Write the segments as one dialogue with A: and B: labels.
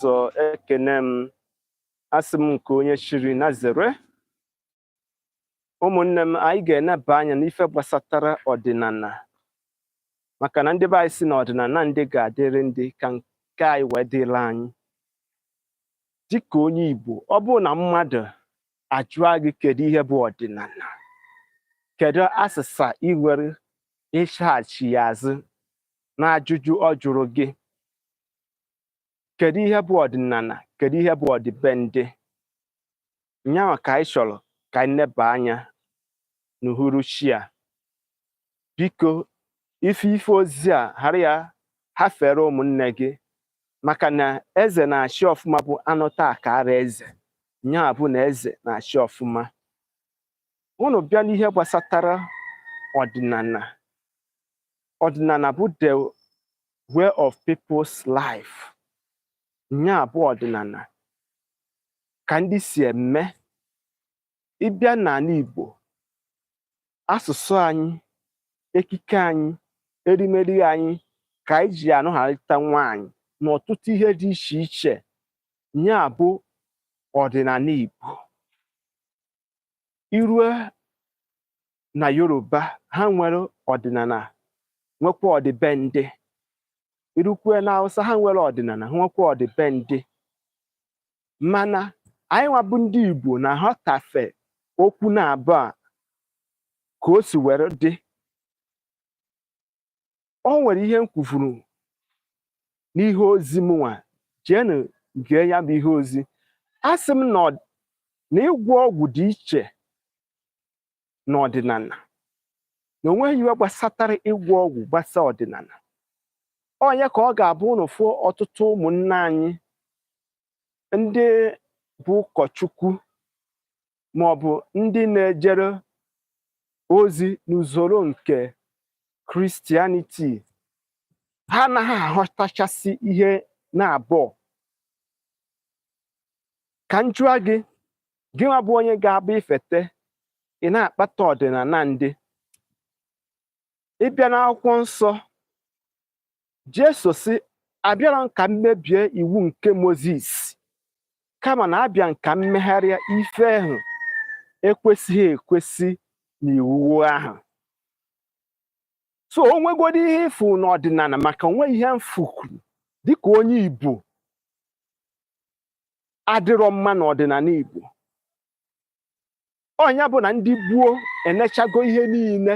A: ụzọ ekene m asị m nke onye chiri nya zere ụmụnne m anyị ga-eneba anya n'ife gbasatara ọdịnala maka na ndị be anyị si na ọdịnala ndị ga-adịrị ndị ka nke anyị wee dịrị anyị dịka onye Igbo ọ bụrụ na mmadụ ajụọ gị kedu ihe bụ ọdịnala kedu asịsa ị nwere ịsaghachi ya azụ n'ajụjụ ọ jụrụ gị kedu ihe bụ ọdịnala kedu ihe bụ ọdịbendị nyanwa ka anyị chọrọ ka anyị neba anya n'uhuruchi a biko ị fụ ife ozi a ghara ya ghafere ụmụnne gị maka na eze na-achị ọfụma bụ anụta akara eze nyanwa bụ na eze na-achị ọfụma unu bịa n'ihe gbasatara ọdịnala ọdịnala bụ the way of people's life nya bụ ọdịnala ka ndị si eme ị bịa n'ala Igbo asụsụ anyị ekike anyị erimeri anyị ka anyị ji anụgharịta nwaanyị na ọtụtụ ihe dị iche iche nya bụ ọdịnala Igbo i rue na yoruba ha nwere ọdịnala nwekwa ọdịbendị i rukwue na hausa ha nwere ọdịnala ha nwekwa ọdịbendị mana anyị nwa bụ ndị igbo na-aghọtafe okwu naabụọ a ka o si were dị o nwere ihe m kwuburu n'ihe ozi m nwa jeenụ gee ya bụ ihe ozi asị m na ịgwọ ọgwụ dị iche n'ọdịnala na o nweghị ihe gbasatara ịgwọ ọgwụ gbasa ọdịnala ọ nya ka ọ ga-abụ unu fụ ọtụtụ ụmụnna anyị ndị bụ ụkọchukwu ma ọ bụ ndị na-ejere ozi n'usoro nke Christianity ha anaghị aghọtachasị ihe naabụọ ka m jụọ gị gị nwa bụ onye ga-abụ i fete ị na-akpata ọdịnala ndị ị bịa n'akwụkwọ nsọ Jesu sị abịarọ m ka m mebie iwu nke Mozis kama na abịa m ka m megharịa ife ahụ ekwesịghị ekwesị n'iwu ahụ so o nwegodi ihe ị fụrụ n'ọdịnala maka o nwe ihe m fụkwuru dịka onye Igbo adịrọ mma n'ọdịnala Igbo ọnya bụ na ndị gboo enechago ihe niile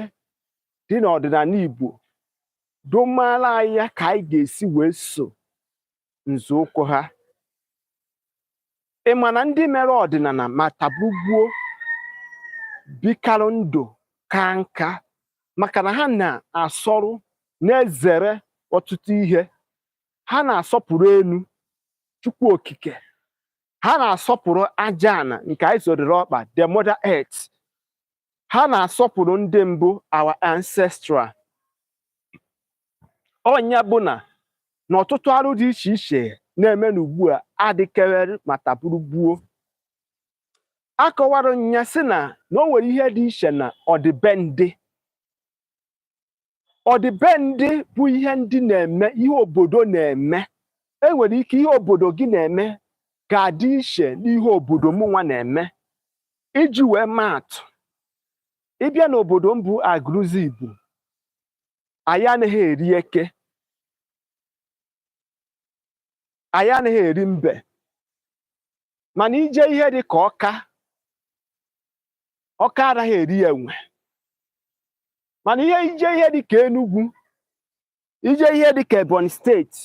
A: dị n'ọdịnala Igbo domara anyị ya ka anyị ga-esi wee so nzọụkwụ ha ị ma na ndị mere ọdịnala ma tabu gboo bikarụ ndụ ka nka maka na ha na-asọrụ na-ezere ọtụtụ ihe ha na-asọpụrụ elu Chukwu Okike ha na-asọpụrụ aja ana nke anyị zọdoro ọkpa the mother earth ha na-asọpụrụ ndị mbụ our ancestral ọnya bụ na na ọtụtụ arụ dị iche iche na-eme n'ugbu a adịkewere ma taburu gboo akọwara nya sị na na o nwere ihe dị iche na ọdịbendị ọdịbendị bụ ihe ndị na-eme ihe obodo na-eme e nwere ike ihe obodo gị na-eme ga-adị iche n'ihe obodo mụnwa na-eme iji wee maatụ ị bịa n'obodo m bụ Agụlụzigbo anyị anaghị eri eke anyị anaghị eri mbe mana i je ihe dị ka Ọka Ọka anaghị eri enwe mana ihe i je ihe dịka Enugu i je ihe dịka Ebonyi steeti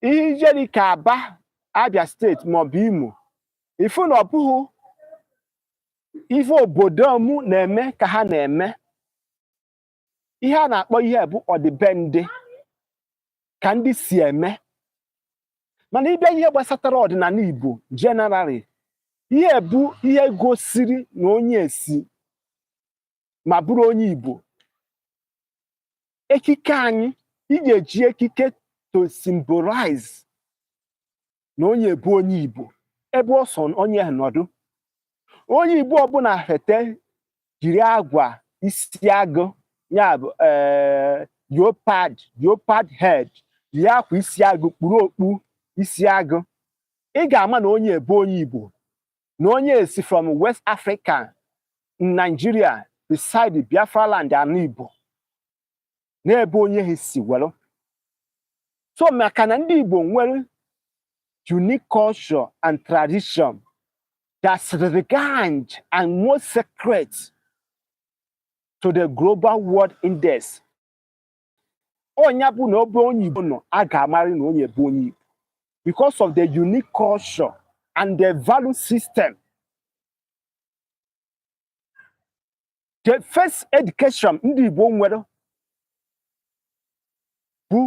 A: ihe i je dịka Aba Abia steeti maọbụ Imo ị fụ na ọ bụghị ife obodo m na-eme ka ha na-eme ihe a na-akpọ ihe a bụ ọdịbendị ka ndị si eme mana ị bịa ihe gbasatara ọdịnala Igbo generally ihe a bụ ihe gosiri na onye a si ma bụrụ onye Igbo ekike anyị i ga-eji ekike to symbolize na onye a bụ onye Igbo ebe ọ sọ onye nọdụ onye Igbo ọbụla fete yiri akwa isi agụ ya bụ eh, leopard leopard head yiri akwa isi agụ kpuru okpu isi agụ ị ga-ama na onye a bụ onye Igbo na onye a si from West Africa Nigeria beside Biafra land ana Igbo n'ebe onye ahụ si were so maka na ndị Igbo nwere unique culture and tradition that's regard and most sacred to the global world index ọnya bụ na ebe onye Igbo nọ a ga-amarị na onye bụ onye Igbo because of the unique culture and the value system the first education ndị Igbo nwere bụ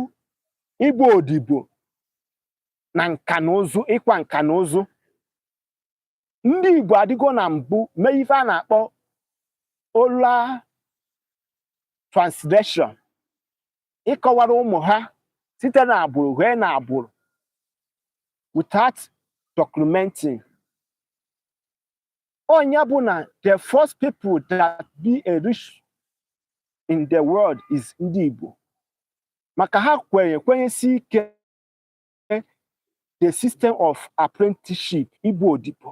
A: ịgba odibo na nka na ụzụ ịkwa nka na ụzụ ndị Igbo adịgo na mbụ mee ife a na-akpọ oral translation ịkọwara ụmụ ha site na agbụrụ fee na agbụrụ without documenting ọ nya bụ na the first people that be a rich in the world is ndị Igbo maka ha kwenye kwenyesi ike the system of apprenticeship ịgba odibo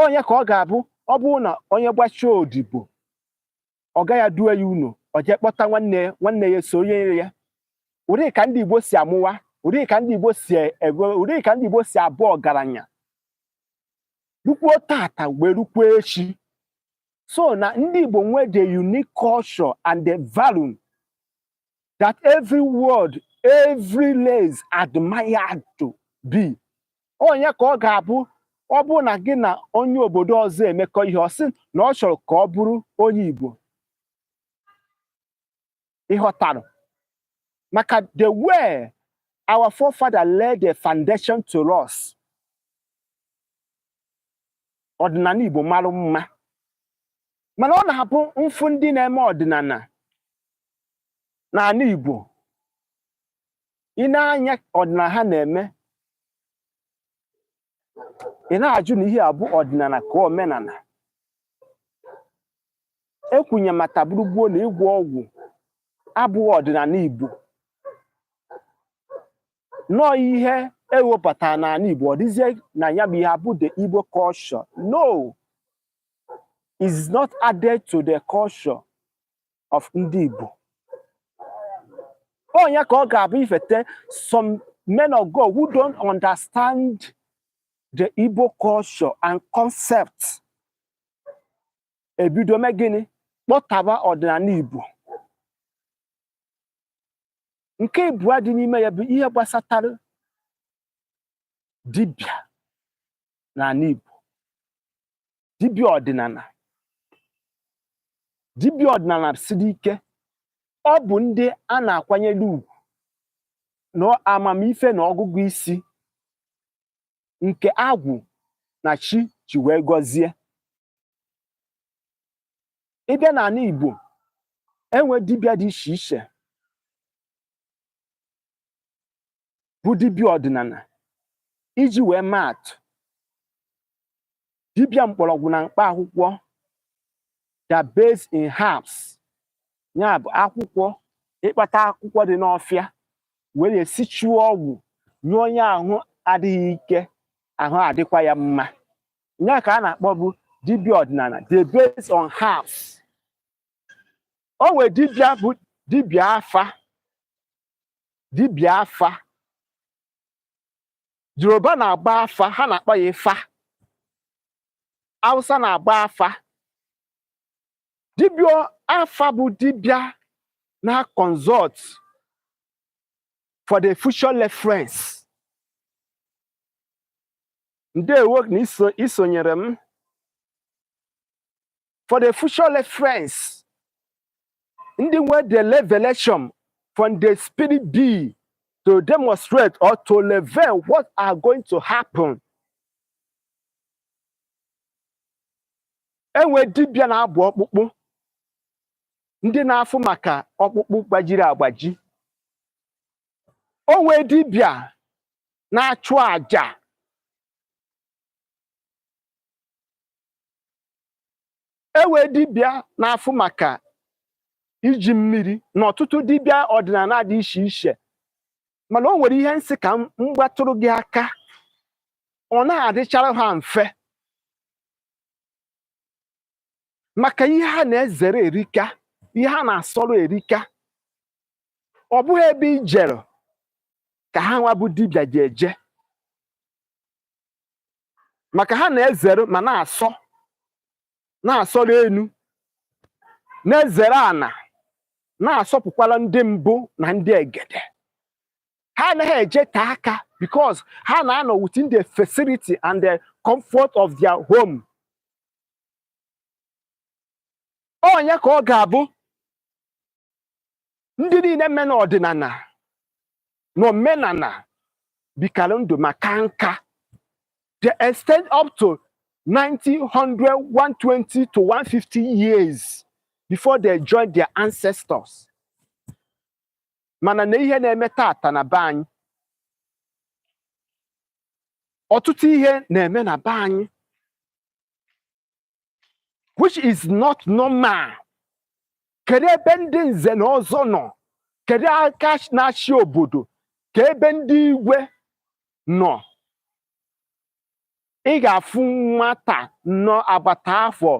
A: ọ nya ka ọ ga-abụ ọ bụrụ na onye gbachaa odibo ọga ya edue ya ụnọ ọ jee kpọta nwanne ya so onye ya ụdị ka ndị Igbo si amụwa ụdị ka ndị Igbo si ụdị ka ndị Igbo si abụ ọgaranya rukwuo tata wee rukwuo echi so na ndị Igbo nwee the unique culture and the value that every world every race admired to be ọ nya ka ọ ga-abụ ọ bụrụ na gị na onye obodo ọzọ emekọ ihe ọ sị na ọ chọrọ ka ọ bụrụ onye Igbo ị ghọtara maka the way our forefather laid the foundation to us ọdịnala Igbo mara mma mana ọ na-abụ m fụ ndị na-eme ọdịnala n'ala Igbo i nee anya ọdịnala ha na-eme ị na-ajụ na ihe a bụ ọdịnala ka omenala ekwunye mata gburugburu na ịgwọ ọgwụ abụghị ọdịnala Igbo no ihe ewepụtara n'ala Igbo ọ dịzie na ya bụ ihe a bụ the Igbo culture no it's not added to the culture of ndị Igbo ọ nya ka ọ ga-abụ ifete some men of God who don't understand the Igbo culture and concept ebido mee gịnị kpọtọba ọdịnala Igbo nke ịbụa dị n'ime ya bụ ihe gbasatara dibịa n'ala Igbo dibịa ọdịnala dibịa ọdịnala siri ike ọ bụ ndị a na-akwanyere ugwu na amamife na ọgụgụ isi nke agwụ na chi ji wee gọzie ị bịa n'ala Igbo e nwee dibịa dị iche iche bụ dibịa ọdịnana iji wee maa atụ dibịa mkpọrọgwụ na mkpa akwụkwọ that based in herbs nya bụ akwụkwọ ịkpata akwụkwọ dị n'ọfịa were esichuo ọgwụ nye onye ahụ adịghị ike ahụ adịkwa ya mma nya ka a na-akpọ bụ dibịa ọdịnana they based on herbs o nwere dibịa bụ dibịa afa dibịa afa yoruba na-agba afa ha na-akpọ ya ifa hausa na-agba afa dibịa afa bụ dibịa na consult for the future reference ndewo na isonyere m for the future reference ndị nwe the revelation from the spirit be to demonstrate or to reveal what are going to happen e nwe dibịa na-abụ ọkpụkpụ ndị na-afụ maka ọkpụkpụ gbajiri agbaji o nwe dibịa na-achụ aja e nwe dibịa na-afụ maka iji mmiri na ọtụtụ dibịa ọdịnana dị iche iche mana o nwere ihe m sị ka m gbatụrụ gị aka ọ naghị adịchara ha mfe maka ihe ha na-ezere erika ihe ha na-asọrọ erika ọ bụghị ebe i jere ka ha nwa bụ dibịa ji eje maka ha na-ezere ma na-asọ na-asọrọ enu na-ezere ana na-asọpụkwara ndị mbụ na ndị egede ha anaghị ejeta aka because ha na-anọ within the facility and the comfort of their home onye ka ọ ga-abụ ndị niile mme na ọdịnana na omenana bikara ndụ ma kaa nka they extend up to 90, 100, 120 to 150 years before they join their ancestors mana na ihe na-eme tata na be anyị ọtụtụ ihe na-eme na be anyị which is not normal kedu ebe ndị nze na ọzọ nọ kedu aka na-achị obodo ka ebe ndị igwe nọ ị ga-afụ nwata nọ agbata afọ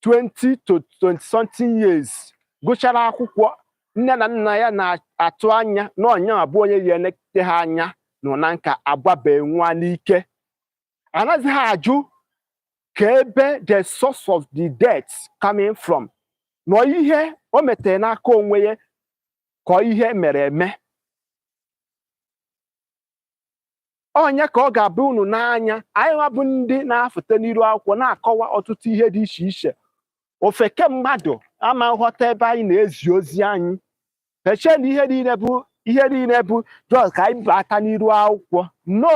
A: 20 to 20 something years gụchara akwụkwọ nne na nna ya na-atụ anya na ọ nya abụ onye ya-enete ha anya nọ na nka agbabe nwa n'ike anaghịzi ajụ ka ebe the source of the death coming from na ọ ihe o metere n'aka onwe ya ka ọ ihe e mere eme ọ nya ka ọ ga-abụ unu n'anya anyị nwa bụ ndị na-afụta n'iru akwụkwọ na-akọwa ọtụtụ ihe dị iche iche ofeke mmadụ ama nghọta ebe anyị na-ezi ozi anyị echee na ihe bụ ihe niile bụ just ka anyị bata n'iru akwụkwọ no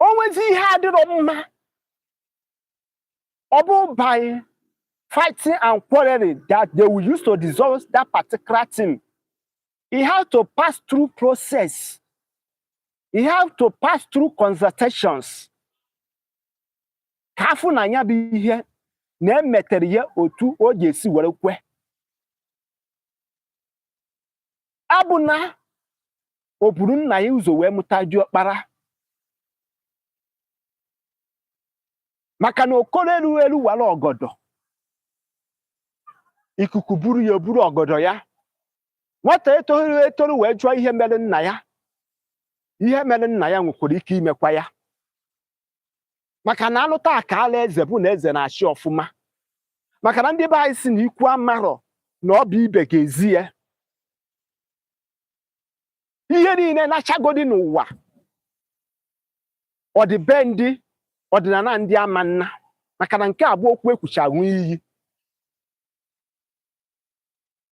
A: o nwezi ihe adịrọ mma ọ bụrọ by fighting and quarreling that they will use to dissolve that particular thing e have to pass through process e have to pass through consultations ka a fụ na nya bụ ihe na e metere ya otu o ga-esi were kwe abụ na o buru nna ya ụzọ wee mụta diọkpara maka na okoro elu elu wara ọgọdọ ikuku buru ya o buru ọgọdọ ya nwata etoru etoru wee jụọ ihe mere nna ya ihe mere nna ya nwekwara ike imekwa ya maka na alụta akaala eze bụ na eze na-achị ọfụma maka na ndị be anyị si na ikwu amarọ na ọ bụ ibe ga-ezi ya ihe niile na-achagodi n'ụwa ọdịbendị ọdịnala ndị ama nna maka na nke a bụ okwu e kwuchaa a ṅụọ iyi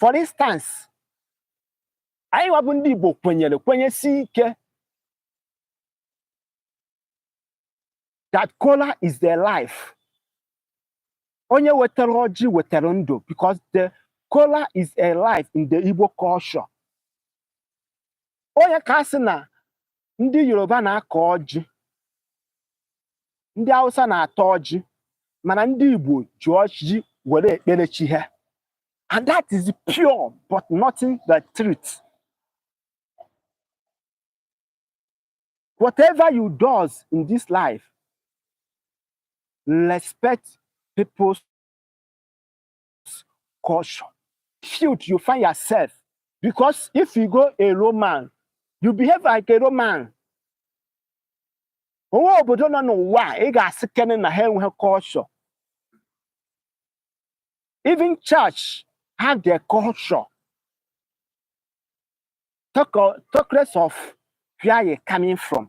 A: for instance anyị nwa bụ ndị Igbo kwenyere kwenyesi ike that kola is their life onye wetara ọjị wetara ndụ because the kola is a life in the Igbo culture ọ nya ka a sị na ndị yoruba na-akọ ọjị ndị hausa na-ata ọjị mana ndị igbo ji ọjị were ekpere chi ha and that is pure but nothing the truth whatever you does in this life respect people's use culture which you find yourself. Because if you go a Roman, you behave like a Roman. onwe obodo nọ n'ụwa ị ga-asị kene na ha enweghị culture even church have their culture talk less of where you coming from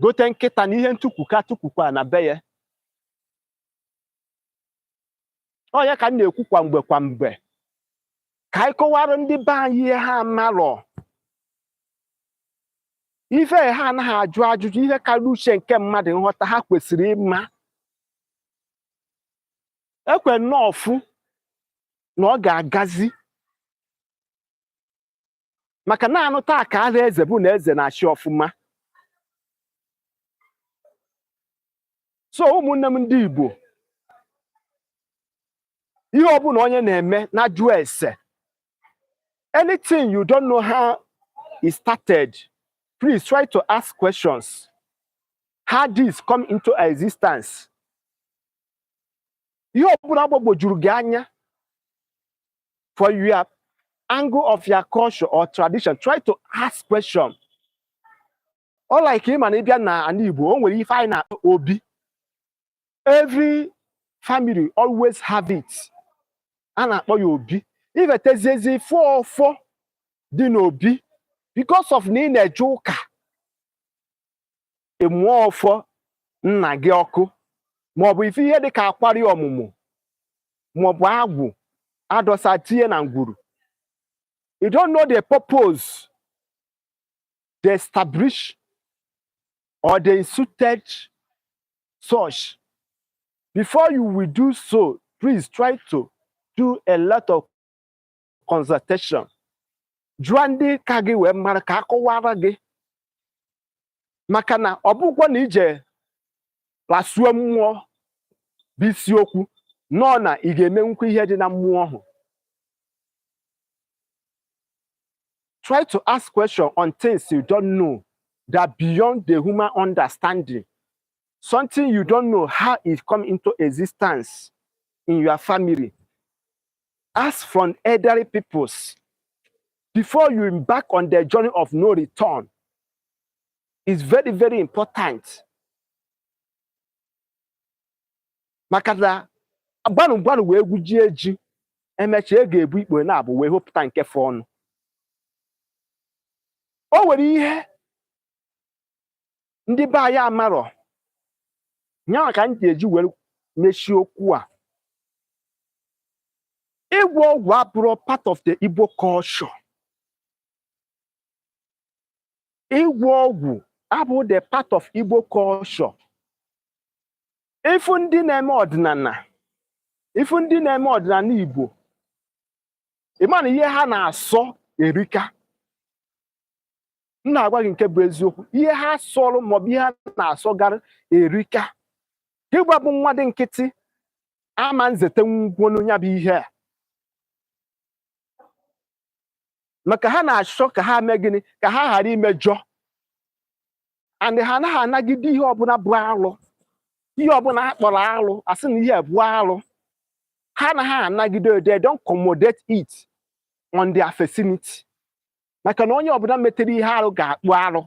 A: gote nkịta na ihe ntukwuka tukwukwa na be ya ọ nya ka m na-ekwu kwa mgbe kwa mgbe ka anyị kọwaara ndị be anyị ihe ha marọ ife ha anaghị ajụ ajụjụ ihe karịa uche nke mmadụ nghọta ha kwesịrị ịma ekwe nnọọ ọfụ na ọ ga-agazi maka na a nụta a kaala eze bụ na eze na-achị ọfụma so ụmụnne m ndị Igbo ihe ọbụla onye na-eme nya jụọ ese anything you don't know how it started please try to ask questions how this come into existence ihe ọbụla gbagwojuru gị anya for your angle of your culture or tradition try to ask question ọ like ị ma na ị bịa na ana Igbo o nwere ife anyị na-akpọ obi every family always have it a na-akpọ ya obi i feteziezi fụ ọfọ dị n'obi because of na ị na-eje ụka ị mụọ ọfọ nna gị ọkụ maọbụ ife ihe dịka akwari ọmụmụ maọbụ agwụ a dọsa tinye na ngwuru you don't know the purpose they establish or they instituted such before you will do so please try to do a lot of consultation jụọ ndị ka gị wee mara ka a kọwaara gị maka na ọ bụkwa na i je kpasuo mmụọ bụ isiokwu nọ na ị ga-emenwukwa ihe dị na mmụọ ahụ try to ask question on things you don't know that beyond the human understanding something you don't know how it come into existence in your family ask from elderly peoples before you embark on the journey of no return is very very important maka na gbanụ gbanụ wee gwujie ji e mecha ị ga-ebu ikpo na-abụ wee hopụta nke fọọnụ o nwere ihe ndị be anyị amarọ nyanwa ka m ji eji were mechie okwu a ịgwọ ọgwụ abụrọ part of the Igbo culture ịgwọ ọgwụ abụrọ the part of Igbo culture ifu ndị na-eme ọdịnala ifu ndị na-eme ọdịnala Igbo ịma na ihe ha na-asọ erika m na-agwa gị nke bụ eziokwu ihe ha sọrọ maọbụ ihe ha na-asọgara erika gịwa bụ mmadụ nkịtị ama nzete ngwo nya bụ ihe a maka ha na-achọ ka ha mee gịnị ka ha ghara imejọ and ha anaghị anagide ihe ọbụla bụ arụ ihe ọbụla a kpọrọ arụ asị na ihe bụ arụ ha anaghị anagide they don't accommodate it on their vicinity maka na onye ọbụla metere ihe arụ ga-akpụ arụ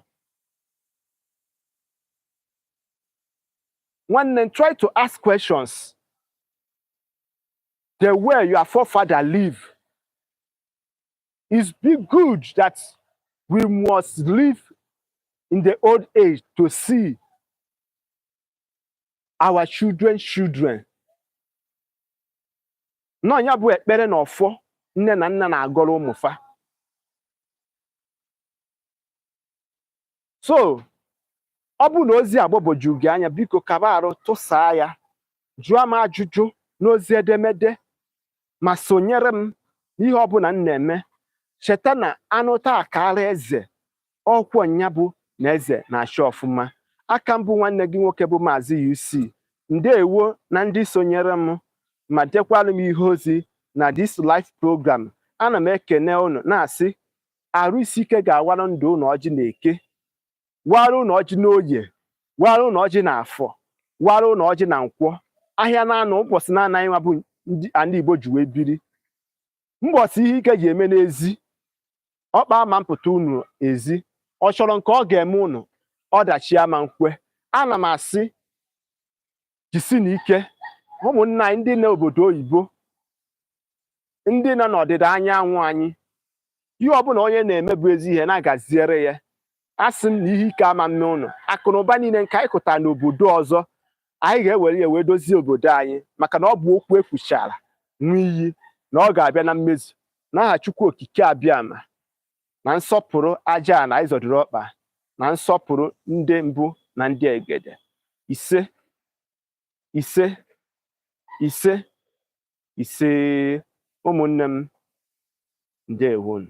A: nwanne m try to ask questions the way your forefather live it be good that we must live in the old age to see our children's children na ọ nya bụ ekpere na ọfọ nne na nna na-agọrọ ụmụ fa so ọ bụrụ na ozi a gbagwoju gị anya biko kaba arụ tụsaa ya jụọ m ajụjụ n'ozi edemede ma sonyere m n'ihe ọbụla m na-eme cheta na anụta akaara eze ọkwọ nya bụ na eze na-achị ọfụma aka m bụ nwanne gị nwoke bụ maazị UC ndewo na ndị sonyere m ma dekwalụ m ihe ozi na this live program ana m ekene ụnụ na-asị arụ isi ike ga-awara ndụ ụnụ ọjị na eke wara ụnụ ọjị n'oye wara ụnụ ọjị na afọ wara ụnụ ọjị na nkwọ ahịa naanọ ụbọchị naanọ anyịwa bụ ndị ala Igbo ji wee biri mbọsị ihe ike ji eme n'ezi ọkpa ama mpụta unu ezi ọ chọrọ nke ọ ga-eme unu ọdachi ama nkwe ana m asị jisinu ike ụmụnna anyị ndị nọ obodo oyibo ndị nọ n'ọdịda anyanwụ anyị ihe ọbụla onye na-eme bụ ezi ihe na-agaziere ya asị m na ihe ike ama mme unu akụ na ụba niile nke anyị kụtara n'obodo ọzọ anyị ga-ewere ya wee dozie obodo anyị maka na ọ bụ okwu ekwuchara nwa iyi na ọ ga-abịa na mmezu n'aha Chukwu Okike Abịama na nsọpụrụ ajana anyị zọdoro ọkpa na nsọpụrụ ndị mbụ na ndị egede ise ise ise ise ụmụnne m ndewonu